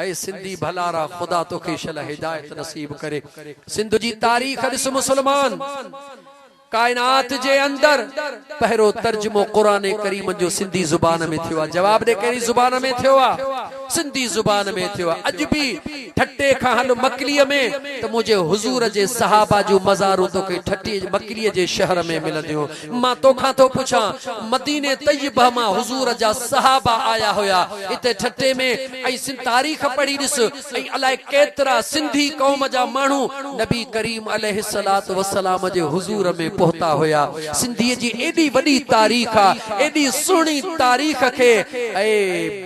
اي سنڌي ڀلارا خدا توکي شل هدايت نصيب ڪري سنڌ جي تاريخ ڏس مسلمان ڪائنات جي اندر پهرو ترجمو قرآن ڪريم جو سنڌي زبان ۾ ٿيو آ جواب ڏي ڪهڙي زبان ۾ ٿيو آ سنڌي زبان ۾ ٿيو آ اڄ به ٺٽي کان هل مڪلي ۾ ته منهنجي حضور جي صحابه جون مزارون توکي ٺٽي مڪلي جي شهر ۾ ملنديون مان توکان ٿو پڇان، مديني طيبه مان حضور جا صحابه آيا هيا هتي ٺٽي ۾ ۽ سنڌ تاريخ پڙهي ڏس ۽ الاء ڪيترا سنڌي قوم جا ماڻهو نبي ڪريم عليه الصلوة والسلام جي حضور ۾ پهتا هيا سنڌي جي ايڏي وڏي تاريخ آ ايڏي سهڻي تاريخ کي اي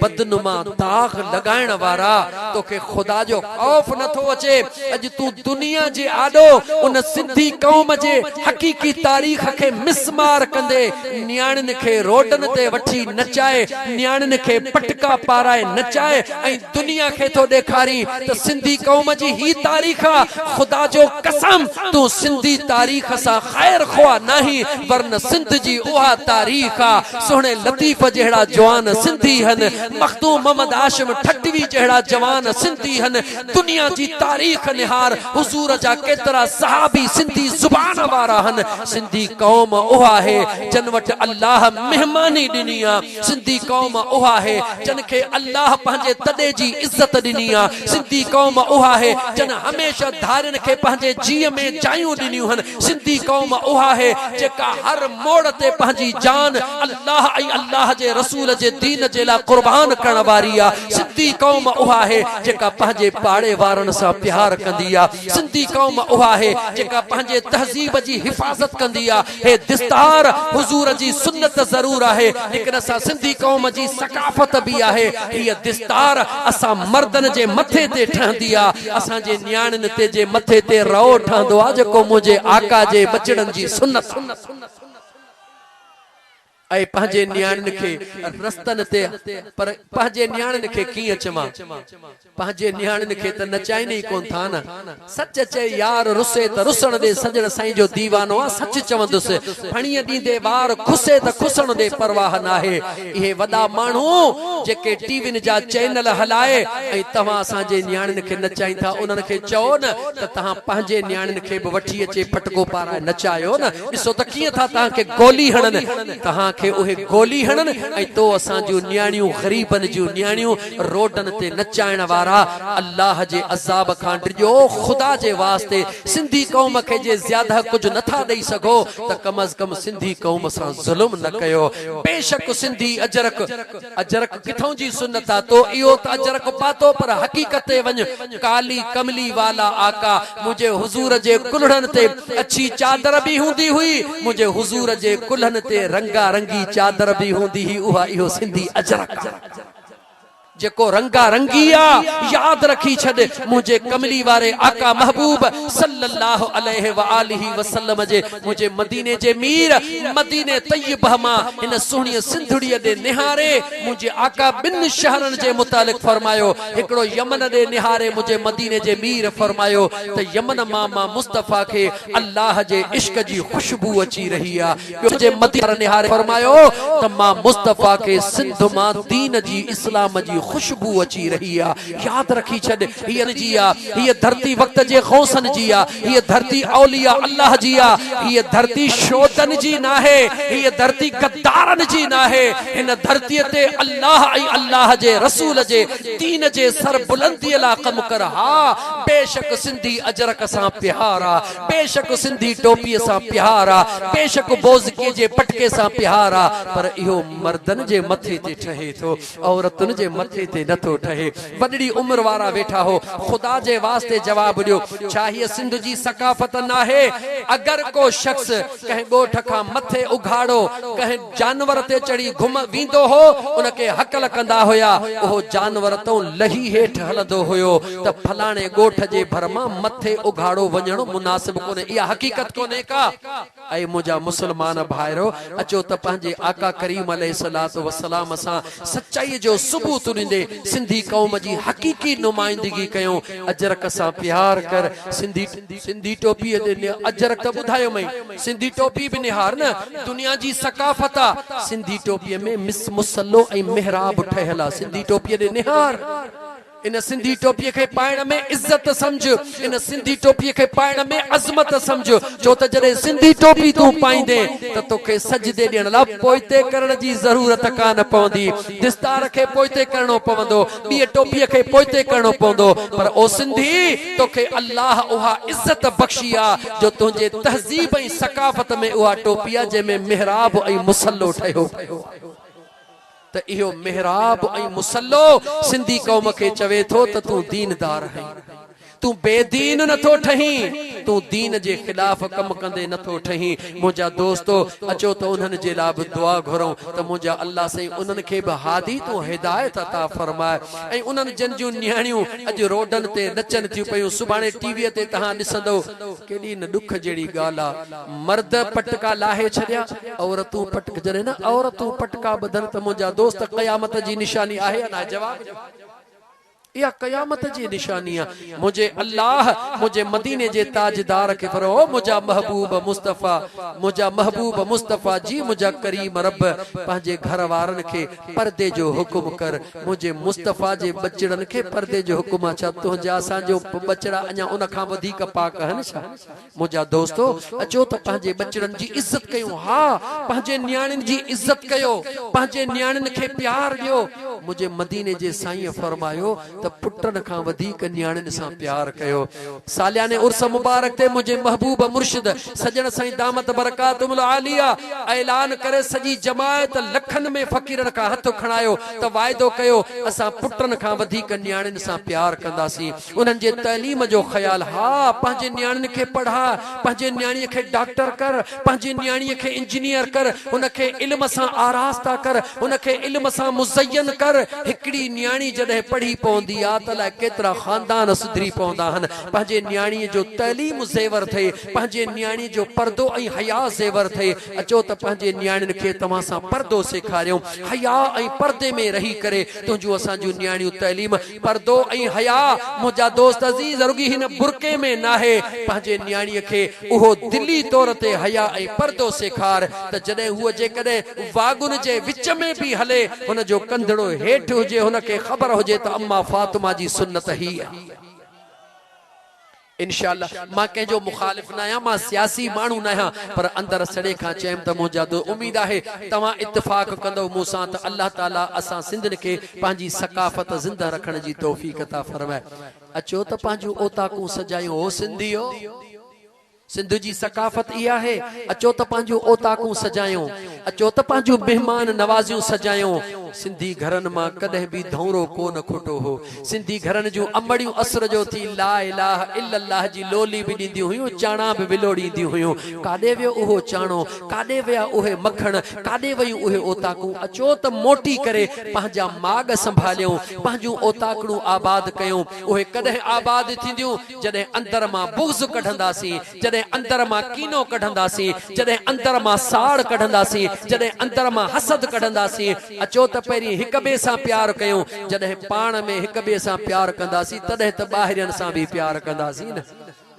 بدنما داغ لڳائڻ وارا توکي خدا جو خوف نه ٿو اچي. اڄ تون دنيا جي آڏو ان سنڌي قوم جي حقيقي تاريخ کي مس مار ڪندي نياڻين کي روڊن تي وٺي نچائي نياڻين کي پٽڪا پارائي نچائي ۽ دنيا کي ٿو ڏيکارين ته سنڌي قوم جي هي تاريخ آ خدا جو قسم تون سنڌي تاريخ سان خير خواهه ناهين ورنه سنڌ جي اها تاريخ آ سهڻي لطيف جهڙا جوان سنڌي هن مخدوم محمد هاشم ٺٽوي جهڙا جوان سنڌي هن دنيا جي تاريخ نهار حضور جا ڪيترا صحابي سنڌي زبان وارا هن سنڌي قوم اها هي جن وٽ الله مهماني ڏني آ سنڌي قوم اها هي جن کي الله پنهنجي تڏي جي عزت ڏني آ سنڌي قوم اها هي جن هميشه ڌارين کي پنهنجي جيء ۾ جايون ڏنيون هن سنڌي قوم اها هي جيڪا هر موڙ تي پنهنجي جان الله ۽ الله جي رسول جي دين جي لاء قربان ڪرڻ واري آ سنڌي قوم اها آهي جيڪا پنهنجي پاڙي وارن سان پيار ڪندي آ سنڌي قوم اها آهي جيڪا پنهنجي تهذيب جي حفاظت ڪندي آ هي دستار حضور جي سنت ضرور آهي ليڪن اسان سنڌي قوم جي ثقافت به آهي هيء دستار اسان مردن جي مٿي تي ٺهندي آ اسان جي نياڻين تي جي مٿي تي رئو ٺهندو آ جيڪو منهنجي آقا جي ٻچڙن جي سنت آ اي پنهنجي نياڻين کي رستن تي پر پنهنجي نياڻين کي ڪيئن چوان؟ پنهنجي نياڻين کي ته نچائين ئي ڪونه ٿا نه. سچ چئي يار رسي ته رسڻ ڏي سڄڻ سائين جو ديوانو آ سچ چوندس. ڦڻيء ڏيندي وار کسي ته کسڻ ڏي پرواهه ناهي. اهي وڏا ماڻهو جيڪي ٽي وين جا چينل هلائي ۽ توهان اسان جي نياڻين کي نچائين ٿا انهن کي چئو نه ته توهان پنهنجي نياڻين کي به وٺي اچي پٽڪو پارائي نچايو نه ڏسو ته ڪيئن ٿا توهان کي گولي هڻن توهان کي اهي گولي هڻن ۽ تو اسان جون نياڻيون غريبن جون نياڻيون روڊن تي نچائڻ وارا الله جي عذاب کان ڊڄو خدا جي واسطي سنڌي قوم کي جي زياده ڪجهه نه ٿا ڏئي سگهو ته ڪم از ڪم سنڌي قوم سان ظلم نه ڪيو بيشڪ سنڌي اجرڪ اجرڪ ڪٿئون جي سنت آ تو اهو ته اجرڪ پاتو پر حقيقت تي وڃ ڪالي ڪملي والا آقا منهنجي حضور جي ڪلهڙن تي اڇي چادر به هوندي هئي منهنجي حضور جي ڪلهن تي رنگا رنگي چادر به هوندي هئي اها اهو سنڌي اجرڪ آ. جيڪو رنگا رنگي آ ياد رکي ڇڏ منهنجي ڪملي واري آقا محبوب صلّي الله عليه واٰله وسلّم جي منهنجي مديني جي مير مديني طيّبه مان هن سهڻي سنڌڙي ڏي نهاري منهنجي آقا ٻن شهرن جي متعلق فرمايو هڪڙو يمن ڏي نهاري منهنجي مديني جي مير فرمايو ته يمن مان مان مصطفيٰ کي الله جي عشق جي خوشبو اچي رهي آ ٻيو جي مديني وارن نهاري فرمايو ته مان مصطفيٰ کي سنڌ مان دين جي اسلام جي خوشبو اچي رهي آ ياد رکي ڇڏ هيء تنهنجي جي آ هيء ڌرتي وقت جي غوثن جي آ هيء ڌرتي اولياء الله جي آ هيء ڌرتي شودن جي ناهي هيء ڌرتي غدارن جي ناهي هن ڌرتي تي الله ۽ الله جي رسول جي دين جي سربلندي لاء ڪم ڪر ها بيشڪ سنڌي اجرڪ سان پيار آ بيشڪ سنڌي ٽوپيء سان پيار آ، بيشڪ بوزڪي جي پٽڪي سان پيار آ، پر اهو مردن جي مٿي تي ٺهي ٿو، عورتن جي مٿي تي نه ٿو ٺهي. وڏڙي عمر وارا ويٺا هو. خدا جي واسطي جواب ڏيو، ڇا هيء سنڌ جي ثقافت ناهي؟ اگر ڪو شخص ڪنهن ڳوٺ کان مٿي اگهاڙو ڪنهن. جانور تي چڙهي گهم ويندو هو، ان کي هڪل ڪندا هيا. اهو جانور تئون لهي هيٺ هلندو هيو ته فلاڻي ڳوٺ جي ڀر مان مٿي اگهاڙو وڃڻ مناسب ڪونهي. اها حقيقت ڪونهي ڪا؟ اي منهنجا مسلمان ڀائرو! اچو ته پنهنجي آقا ڪريم عليه الصلوة والسلام سان سچائيء جو ثبوت ڏيندي سنڌي قوم جي حقيقي نمائندگي ڪيون. اجرڪ سان پيار ڪر، سنڌي. سنڌي ٽوپيء تي نه اجرڪ ٻڌايومئين، سنڌي ٽوپي به نهار نه، دنيا جي ثقافت آ، سنڌي ٽوپيء ۾ مس مصلو ۽ محراب ٺهيل آ، سنڌي ٽوپيء ڏي نهار، ان سنڌي ٽوپيء کي پائڻ ۾ عزت سمجهه، ان سنڌي ٽوپيء کي پائڻ ۾ عظمت سمجهه، ڇو ته جڏهن سنڌي ٽوپي تون پائيندين ته توکي سجدي ڏيڻ لاء پوئتي ڪرڻ جي ضرورت ڪانه پوندي، دستار کي پوئتي ڪرڻو پوندو، ٻيء ٽوپيء کي پوئتي ڪرڻو پوندو، پر او سنڌي! توکي الله اها عزت بخشي آ، جو تنهنجي تهذيب ۽ ثقافت ۾ اها ٽوپي آ، جنهن ۾ محراب ۽ مصلو ٺهيو پيو آ. ته اهو محراب ۽ مصلو سنڌي قوم کي چوي ٿو ته تون ديندار آهين. تون بي دين نه ٿو ٺهين، تون دين جي خلاف ڪم ڪندي نه ٿو ٺهين. منهنجا دوستو! اچو ته انهن جي لاء به دعا گهرون ته منهنجا الله سائين انهن کي به هادي تون هدايت عطا فرماء ۽ انهن جن جون نياڻيون اڄ روڊن تي نچن ٿيون پيون سڀاڻي ٽي ويء تي توهان ڏسندؤ ڪيڏي نه ڏک جهڙي ڳالهه آ مرد پٽڪا لاهي ڇڏيا عورتون پٽڪا جڏهن نه عورتون پٽڪا ٻڌن ته منهنجا دوست قيامت جي نشاني آهي يا ناهي جواب ڏيو. اها قيامت جي نشاني آ. منهنجي الله! منهنجي مديني جي تاجدار کي پرو او منهنجا محبوب مصطفيٰ! منهنجا محبوب مصطفيٰ جي منهنجا ڪريم رب! پنهنجي گهر وارن کي پردي جو حڪم ڪر. منهنجي مصطفيٰ جي ٻچڙن کي پردي جو حڪم آ. ڇا تنهنجا اسان جو ٻچڙا اڃا ان کان وڌيڪ پاڪ آهن ڇا؟ منهنجا دوستو! اچو ته پنهنجي ٻچڙن جي عزت ڪيون. ها! پنهنجي نياڻين جي عزت ڪيو. پنهنجي نياڻين کي پيار ڏيو. منهنجي مديني جي سائينء فرمايو ته پٽن کان وڌيڪ نياڻين سان پيار ڪيو. سالياني عرس مبارڪ تي منهنجي محبوب مرشد سڄڻ سائين دامت برڪاتهم العاليه اعلان ڪري سڄي جماعت لکن ۾ فقيرن کان هٿ کڻايو ته واعدو ڪيو اسان پٽن کان وڌيڪ نياڻين سان پيار ڪنداسين. انهن جي تعليم جو خيال، ها، پنهنجي نياڻين کي پڙهاء، پنهنجي نياڻيء کي ڊاڪٽر ڪر، پنهنجي نياڻيء کي انجنيئر ڪر، هن کي علم سان آراسته ڪر، هن کي علم سان مزين ڪر. هڪڙي نياڻي جڏهن پڙهي پوندي آ ته الائي ڪيترا خاندان سڌري پوندا آهن. پنهنجي نياڻيء جو تعليم زيور ٿئي، پنهنجي نياڻيء جو پردو ۽ حياء زيور ٿئي. اچو ته پنهنجي نياڻين کي توهان سان پردو سيکاريون. حياء ۽ پردي ۾ رهي ڪري تنهنجون اسان جون نياڻيون تعليم پردو ۽ حيا، منهنجا دوست عزيز، رڳي هن برقعي ۾ ناهي. پنهنجي نياڻيء کي اهو دلي طور تي حيا ۽ پردو سيکار ته جڏهن هوء جيڪڏهن واڳن جي وچ ۾ به هلي، هن جو ڪنڌڙو هيٺ هجي، هن کي خبر هجي ته اما فاطمه جي سنت هيء آهي. انشاء الله مان ڪنهن جو مخالف ناهيان مان سياسي ماڻهو ناهيان پر اندر سڙي کان چيم ته منهنجا دو اميد آهي توهان اتفاق ڪندؤ مون سان ته الله تعالي اسان سنڌين کي پنهنجي ثقافت زنده رکڻ جي توفيق عطا فرمائي اچو ته پنهنجون اوطاقون سجايون هو سنڌيو سنڌ جي ثقافت اها آهي اچو ته پنهنجون اوطاقون سجايون اچو ته پنهنجون مهمان نوازيون سجايون سنڌي گهرن مان ڪڏهن به ڌونرو ڪو نه کوٽو هو سنڌي گهرن جون امڙيون اسر جو ٿي لا اله الا الله جي لولي به ڏينديون هيون، چاڻا به ولوڙينديون هيون. ڪاڏي ويو اهو چاڻو؟ ڪاڏي ويا اهي مکڻ؟ ڪاڏي ويون اهي اوطاقون؟ اچو ته موٽي ڪري پنهنجا ماڳ سنڀاليون، پنهنجون اوطاقڙون آباد ڪيون. اهي ڪڏهن آباد ٿينديون، جڏهن اندر مان بغض ڪڍنداسين، جڏهن اندر مان ڪينو ڪڍنداسين، جڏهن اندر مان ساڙ ڪڍنداسين، جڏهن اندر مان حسد ڪڍنداسين، اچو ته پهرين هڪ ٻئي سان پيار ڪيون، جڏهن پاڻ ۾ هڪ ٻئي سان پيار ڪنداسين تڏهن ته ٻاهرين سان به پيار ڪنداسين نه.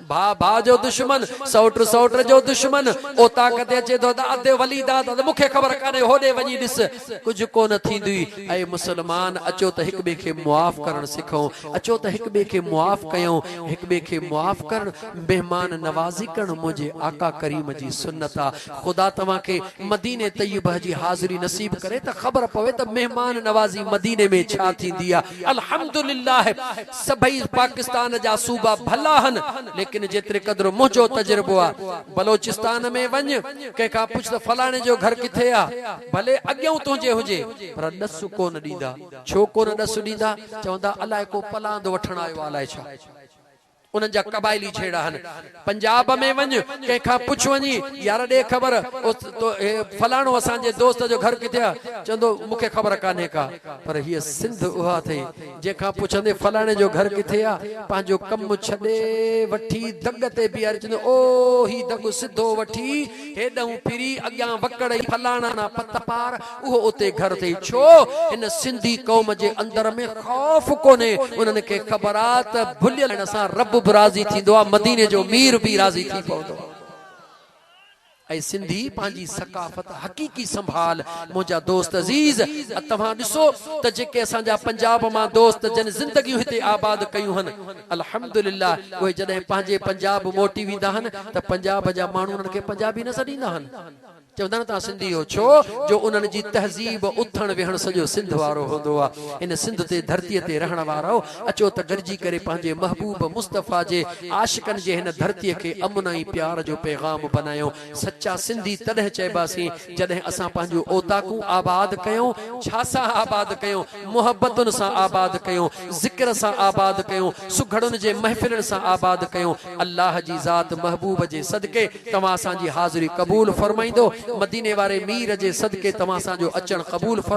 ڀاء ڀاء جو دشمن، سئوٽ سئوٽ جو دشمن، اوطاق تي اچي ٿو ته اڌ ولي داد اڌ مون کي خبر ڪانهي هوڏي وڃي ڏس ڪجهه ڪونه ٿيندئي. اي مسلمان اچو ته هڪ ٻئي کي معاف ڪرڻ سکون، اچو ته هڪ ٻئي کي معاف ڪيون، هڪ ٻئي کي معاف ڪرڻ. مهمان نوازي ڪرڻ منهنجي آقا ڪريم جي سنت آ خدا توهان کي مدينه طيبه جي حاضري نصيب ڪري ته خبر پوي ته مهمان نوازي مدينه ۾ ڇا ٿيندي آ الحمدلله سڀئي پاڪستان جا صوبا ڀلا هن ليڪن جيتري قدر منهنجو تجربو آ بلوچستان ۾ وڃ ڪنهن کان پڇ ته فلاڻي جو گهر ڪٿي آ ڀلي اڳيئون تنهنجي هجي پر ڏس ڪونه ڏيندا ڇو ڪونه ڏس ڏيندا چوندا الائي ڪو پلاند وٺڻ آيو آ الائي ڇا. انهن جا قبائلي جھيڙا آھن. پنجاب ۾ وڃ ڪنهن کان پڇ وڃي يار ڏي خبر فلاڻو اسان جي دوست جو گھر ڪٿي آ چوندو مون کي خبر ڪانهي ڪا پر هيء سنڌ اها اٿئي جنهن کان پڇندي فلاڻي جو گھر ڪٿي آ پنهنجو ڪم ڇڏي وٺي دڳ تي بيھاري چوندو او هي دڳ سڌو وٺي هيڏنهون ڦري اڳيان وڪڙئي فلاڻا نا پت پار اهو اتي گهر ٿئي ڇو هن سنڌي قوم جي اندر ۾ خوف ڪونهي انهن کي خبر آ ته ڀليل سان رب به راضي ٿيندو آ مديني جو مير بي راضي ٿي پوندو آ اي سنڌي پنهنجي ثقافت حقيقي سنڀال منهنجا دوست عزيز ا توهان ڏسو ته جيڪي اسان جا پنجاب مان دوست جن زندگيون هتي آباد ڪيون هن الحمدلله اهي جڏهن پنهنجي پنجاب موٽي ويندا هن ته پنجاب جا ماڻهو انهن کي پنجابي نه سڏيندا هن چوندا آهن ته سنڌي اهو ڇو جو انهن جي تهذيب اٿڻ ويهڻ سڄو سنڌ وارو هوندو آهي هن سنڌ تي ڌرتي تي رهڻ وارؤ اچو ته گڏجي ڪري پنهنجي محبوب مصطفيٰ جي عاشقن جي هن ڌرتي کي امن ۽ پيار جو پيغام بنايون سچا سنڌي تڏهن چئباسين جڏهن اسان پنهنجون اوطاقون آباد ڪيون ڇا سان آباد ڪيون محبتن سان آباد ڪيون ذڪر سان آباد ڪيون سگهڙن جي محفلن سان آباد ڪيون الله جي ذات محبوب جي صدقي توهان اسان جي حاضري قبول فرمائيندو، مديني واري مير جي صدقي توهان اسان جو اچڻ قبول فرمائيندو.